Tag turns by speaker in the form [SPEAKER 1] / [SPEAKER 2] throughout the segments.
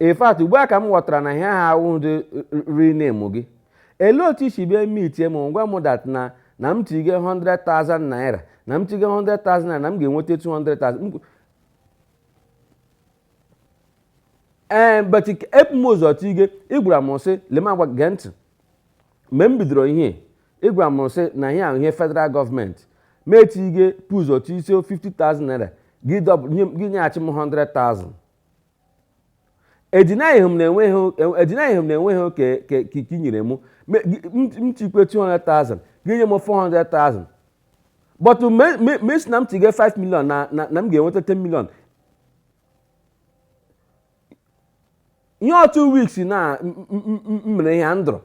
[SPEAKER 1] in fact ugbu a ka m ghọtara na ihe ahụ awụ ndị ri na-emu gị elee otu isi bịa eme itie m ngwa m that na na m tige 100,000 naira na m tige 100,000 naira na m ga-enweta 200,000 ee but ebu m ụzọ tige ị gwara m sị lema gwa gee ntị Mgbe m bidoro ihe, ị gwara m sị na ihe ahụ ihe federal gọọmenti ma etige bu ụzọ tige 50,000 naira gị dọb- nye m- gị nyeghachi m 100,000 edinaịghị m na enweghị edinaịghị m na enweghị oke ke ka ke i nyere m Me- gị- m m tikwe 200,000 gị nye m 400,000 but me me- me si na m tige 5 million na na na m ga-enweta 10 million in two weeks na mere ihe ndụrụ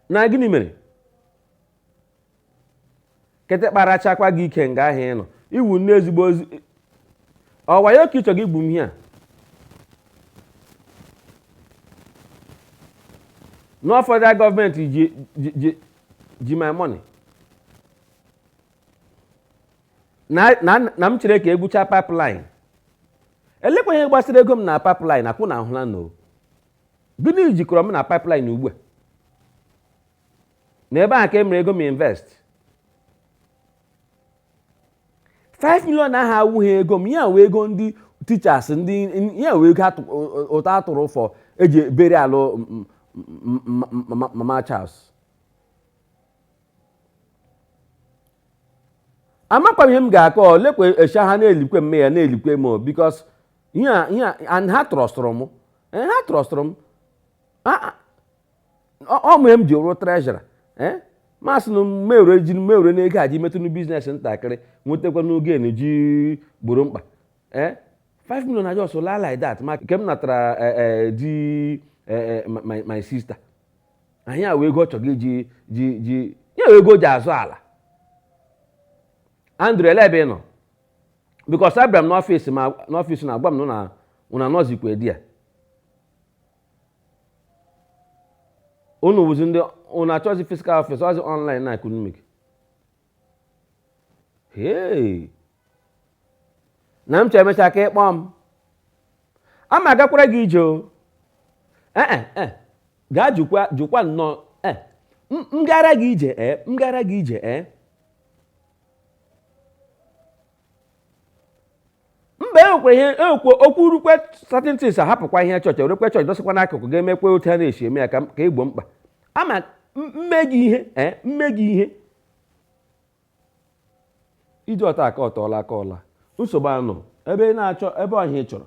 [SPEAKER 1] na gịnị mere nkịta rachakwa gị ike nga ahụ ị nọ ị wụ nnọọ ezigbo ozi ọ wayọ ka ị chọ iji gbu m ihe a na ọ federal gọọmenti ji ji ji my money na na na m chere ka egwucha pipeline elekwa ihe gbasara ego m na pipeline akwụ na ahụla na o gịnị jikọrọ m na pipeline ugbu a na ebe a ka e mere ego m invest 5 million ahụ awụghị ego m ya wụ ego ndị teachers ndị ya wụ ego atụ- o- o- ụtụ a tụrụ for eji burial m- m- m- m- mama Charles amakwa m ihe m ga-akọ ọ lekwe echa ha na-elikwe mme ya na-elikwe m o, because ihe a- ihe a- and ha trọstụrụ m Eh, ha trọstụrụ m Ah, ah. ọ ọ wụ ihe m ji wụrụ treasurer m asị na mewere ji mewere n'ego a ji metụnụ business ntakịrị nwetakwa n'oge na ji gboro mkpa Eh, 5 million na just laa like that ma nke m natara eh, eh, di eh, eh, my- my sister ya wụ ego ọ chọrọ iji ji ji ya wụ ego o ji azụ ala Andrew elee ebe ị nọ because abịara m n'ọfịs ma n'ọfịs na agwa m na unu anọzikwa there unu wụzi ndị unu achọzi physical office ọzi online na economic ee na m chọọ emecha ka ịkpọ m ama agakwara gị ije o ee eh, eh, eh. gaa jụkwa jụkwa nnọọ ee m gara gị ije ee m gara gị ije ee mba enwekwa ihe enwekwa okwu rukwe certain things a hapụkwa ihe chọọchị e werekwe chọọchị dọsịkwa n'akụkụ ga-emekwa otu a na-esi eme ya ka ka igbo mkpa ama m- mme gị ihe ee mme gị ihe iji ọta aka ọtọọla aka ọla nsogbu anọ ebe ị na-achọ ebe ọhịa ị chọrọ